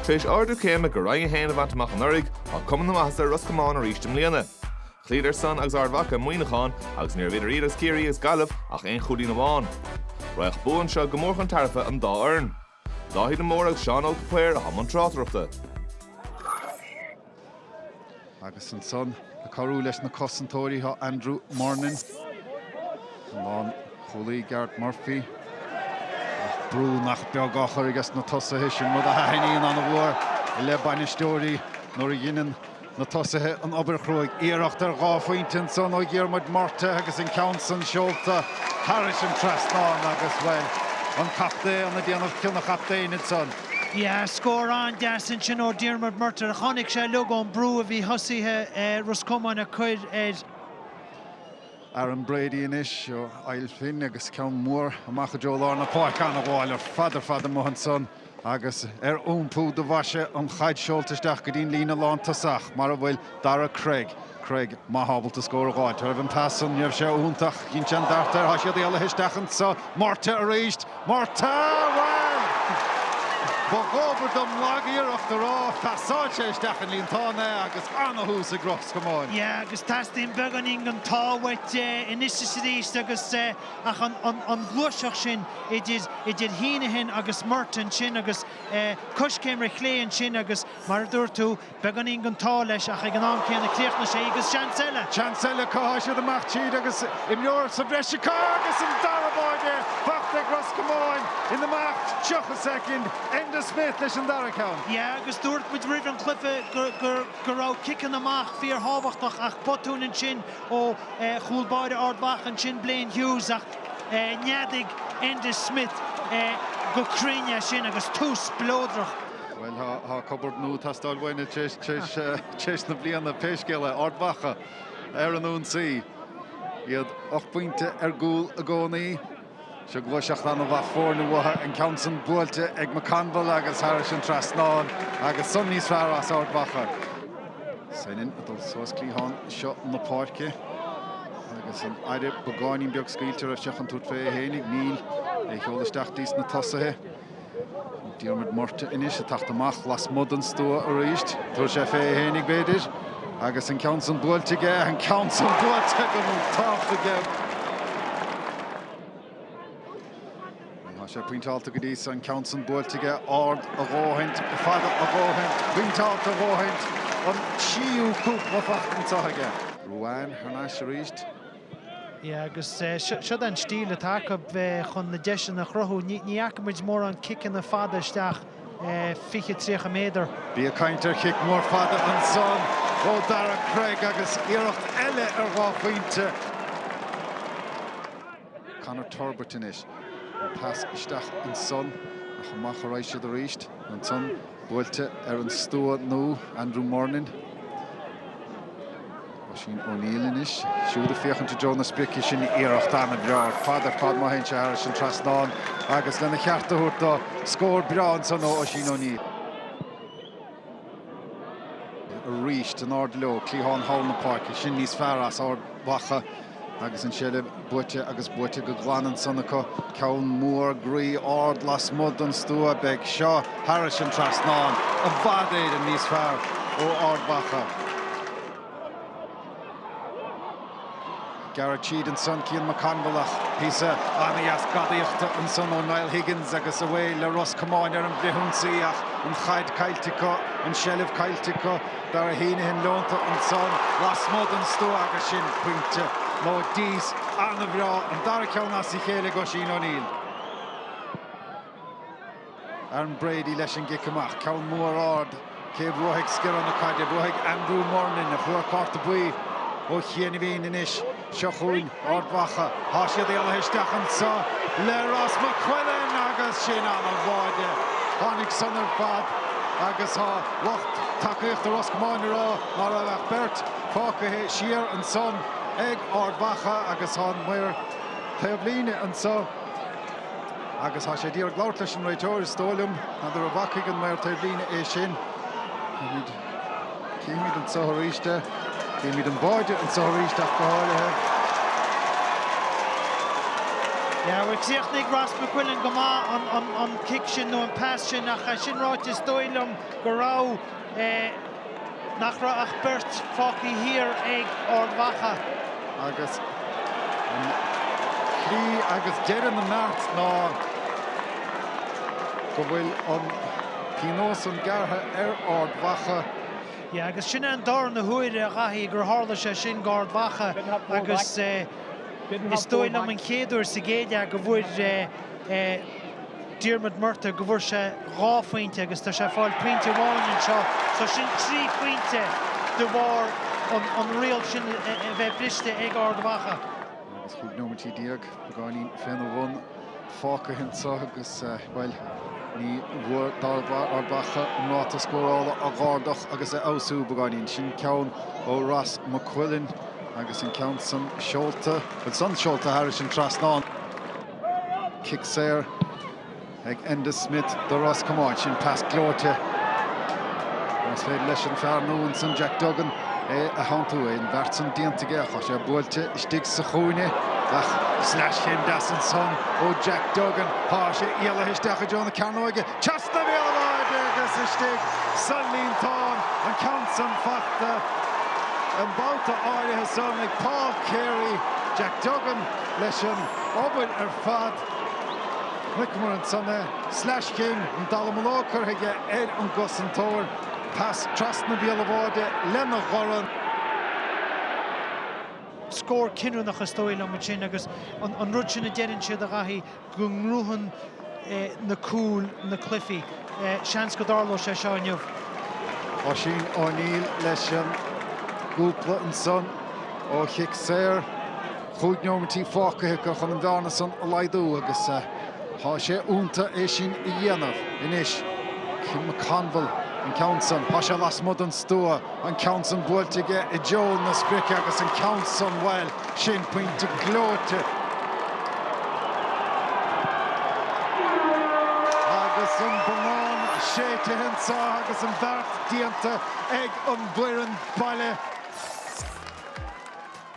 Tar éis ardú céime go Roinn 1 a bhaint amach anuraidh, tá cuma na maitheasa ar Ros Comáin arís i mbliana. Chloíodar san agus Ard Mhacha Muineachán agus ní raibh idir iad agus Ciarraí agus Gaillimh ach aon chúilín amháin. Bheadh bua anseo go mór chun tairbhe an dá fhoireann. Dáithí de Mórdha agus Seán Óg de Paor atá i mbun tráchtaireachta. Agus ansan ag cabhrú leis na cosantóirí tá Andrew Murnin, an lánchúlaí Garrett Murphy, ach brú nach beag á chur aige sna tosaithe, sin rud a thaitníonn ana-mhór le bainisteoirí nuair a dhineann na tosaithe an obair chruaidh. Iarracht ar dhá phointe ansan ó Dhiarmuid Murtagh agus an ceann san seolta thairis an trasnán agus, bhuel, an captaen ag déanamh cion an chaptaein ansan. Yeah scór an-deas ansin ó Diarmuid Murtagh. Tháinig sé uilig ón brú a bhí tosaithe Ros Comáin ag cur air. Aaron Brady anois ó Ail Finn agus ceann mór amach i dtreo lár na páirce. An-ghabháil ar fad ar fad amuigh ansan agus ar iompú do bhaise an chaid seolta isteach go dtí an líne lántosach mar a bhfuil Darragh Craig, Craig, má tá sé ábalta scór a dh'fháil. Thar an pas san, ní raibh sé iontach, cruinn, tabhair tharat air, thá siad éalaithe isteach anso, Murtagh arís, Murtagh! Bhuel! Ba dhóbair dom lag-iarracht a rá, ach sáite isteach sa líontán é agus ana-thús ag Ros Comáin. Yeah agus teastaíonn beagáinín den ádh uait anois is arís agus, eh, ach an, an, an ghluaiseacht sin idir, idir Heneghan agus Murtagh ansin agus, eh, coiscéim ar chlé ansin agus mar a dúirt tú, Beagáinín den t-ádh leis ach ag an am céanna chríochnaigh sé í agus seans eile! Seans eile, tá siad amach tríd agus imreoir sa bhreis acu agus an dara báire faighte ag Ros Comáin in imeacht 30 soicind. Enda Smith leis an dara ceann. Yeah agus dúirt muid roimh an gcluiche go raibh ciceanna amach fíorthábhachtach ach botún ansin ó chúl báire Ard Mhacha ansin Blaine Hughes ach neadaigh Enda Smith go cruinn é sin agus tús spleodrach Bhuel, tá cupboard nua ag teastáil uainne tréis na bliana, pé scéal é. Ard Mhacha ar an ionsaí. Iad ocht bpointe ar gcúl i gcónaí. Seo gluaiseacht an-mhaith foirne uathu, an ceann san buailte ag McConville agus thairis an trasnán agus san níos fearr as Ard Mhacha. Senan ag dul suas cliathán seo na páirce agus an áit beagáinín beag scaoilte roimis ach in ionad tabhairt fé fhéinig. níl, á sheoladh isteach dtí sna tosaithe. Diarmuid Murtagh anois ag teacht amach lasmuigh den stua arís. Tabharfaidh sé fé é fhéinig, b'fhéidir, agus an ceann san buailte aige, an ceann san buailte go hiontach aige. Tá sé pointeálta go dtí an ceann san buailte aige, ard a dhóthaint, fada a dhóthaint, pointeálta a dhóthaint, an tríú cúpla faighte anseo aige. Ruane thar n-ais arís. Yeah agus siod an stíl atá acu chun na deiseanna a chruthú. Ní fhaca muid mórán ciceanna fada isteach fiche, tríocha méadar. Bhí ag caint ar chic mór fada ansan ó Daire Cregg agus iarracht eile ar dhá phointe. Conor Turbitt anois. An pas isteach ansan ach amach a raghaidh siad arís. Ansan buailte ar an stua nua, Andrew Murnin. Oisín O'Neill anois siúd ag féachaint i dtreo na sprice sin. Iarracht an-bhreá ar fad ar fad má théann sé thairis an trasnán agus lena cheart a thabhairt dó scór breá ansan ó Oisín O'Neill. Arís, in airde leo, cliathán thall na páirce, sin níos fearr as Ard Mhacha. Agus an tseilbh buaite agus buaite go glan ansan acu, ceann mór groí ard lasmuigh den stua, beidh seo thairis an trasnán i bhfad Éireann níos fearr ó Ard Mhacha. Ag gearradh tríd ansan, Cian McConville ach píosa an-deas gadaíochta ansan ó Niall Higgins agus away le Ros Comáin ar an bhfrithionsaí ach an chaid caillte acu, an tseilbh caillte acu. Darragh Heneghan leonta ansan lasmuigh den stua agus sin pointe nó dís an-bhreá, an dara ceann as a chéile ag Oisín O'Neill. Aaron Brady leis an gcic amach, ceann mór ard, cé a bhuafaidh sciorradh na caide? Buafaidh Andrew Murnin, a fuair cárta buí ó chiainibhín anois. Seo chugainn, Ard Mhacha. Tá siad éalaithe isteach anseo le Ross McQuillan agus sin an-bháide. Tháinig san ar fad agus tá lucht tacaíochta Ros Comáin ag rá ná raibh ach beirt fágtha siar ansan ag Ard Mhacha agus tá an maor taobh líne anseo agus tá sé ag iarraidh labhairt leis an réiteoir is dóigh liom. N'fheadar an bhfacaidh an maor taobh líne é sin, Címid anso aríst é, címid an báide anso aríst ach go háirithe. Yeah, bhuel chríochnaigh Ross McQuillan go maith an cic sin nó an pass sin ach sin ráite is dóigh liom go raibh, nach raibh ach beirt fágthaí thiar ag Ard Mhacha. Agus críoch agus deireadh na mbeart ná go bhfuil an. Pionós san gearrtha ar Ard Mhacha. Yeah agus sin é an darna huair a Dhaithí gur tharla sé sin go Ard Mhacha agus is dóigh liom an chéad uair sa gcéad leath go bhfuair Diarmuid Murtagh, go bhfuair sé dhá phointe agus tá sé ag fáil pointe amháin anseo so sin trí phointe de bharr an riail sin a bheith briste ag Ard Mhacha. Agus 15 nóimeintí beagáinín fén a bhun fágtha anseo agus, bhuel, ní bhfuair Ard Mhacha an ráta scórála a dh'ardú agus a fheabhsú beagáinín. Sin ceann ó Ross McQuillan agus an ceann san seolta, bhuel san seolta thairis an trasnán. Cic saor. ag Enda Smith do Ros Comáin. Sin pas gleoite. Más féidir leis an fear nua ansin, Jack Duggan, é a theanntú, agus an bheart san déanta aige, tá sé buailte istigh sa chúinne ach sleaschéim dheas ansan ó Jack Duggan, tá sé éalaithe isteach i dtreo na cearnóige, trasna bhéal an bháide agus istigh sa líontán, an ceann san fachta an babhta áirithe san ag Paul Carey. Jack Duggan leis an obair ar fad. Chonaiceamar ansan é. Sleaschéim, an dallamullóg curtha aige ar an gcosantóir. Pas trasna bhéal an bháide lena dhorn. Scór cinniúnach is dóigh liom ansin agus an rud sin a deireann siad a Dhaithí, go ngnóthaíonn na cúil na cluichí. Seans go dtarlóidh sé seo inniu. Oisín O'Neill leis an gcúl ansan ó chic saor. Chúig nóimintí fágtha acu chun an bhearna san a laghdú agus tá sé ionta é sin a dhéanamh anois. Cian McConville an ceann san. Tá sé lasmuigh den stua. An ceann san buailte aige i dtreo na sprice agus an ceann san, bhuel, sin pointe gleoite. Agus an bonnán séidthe anseo agus an bheart déanta ag an bhfoireann baile.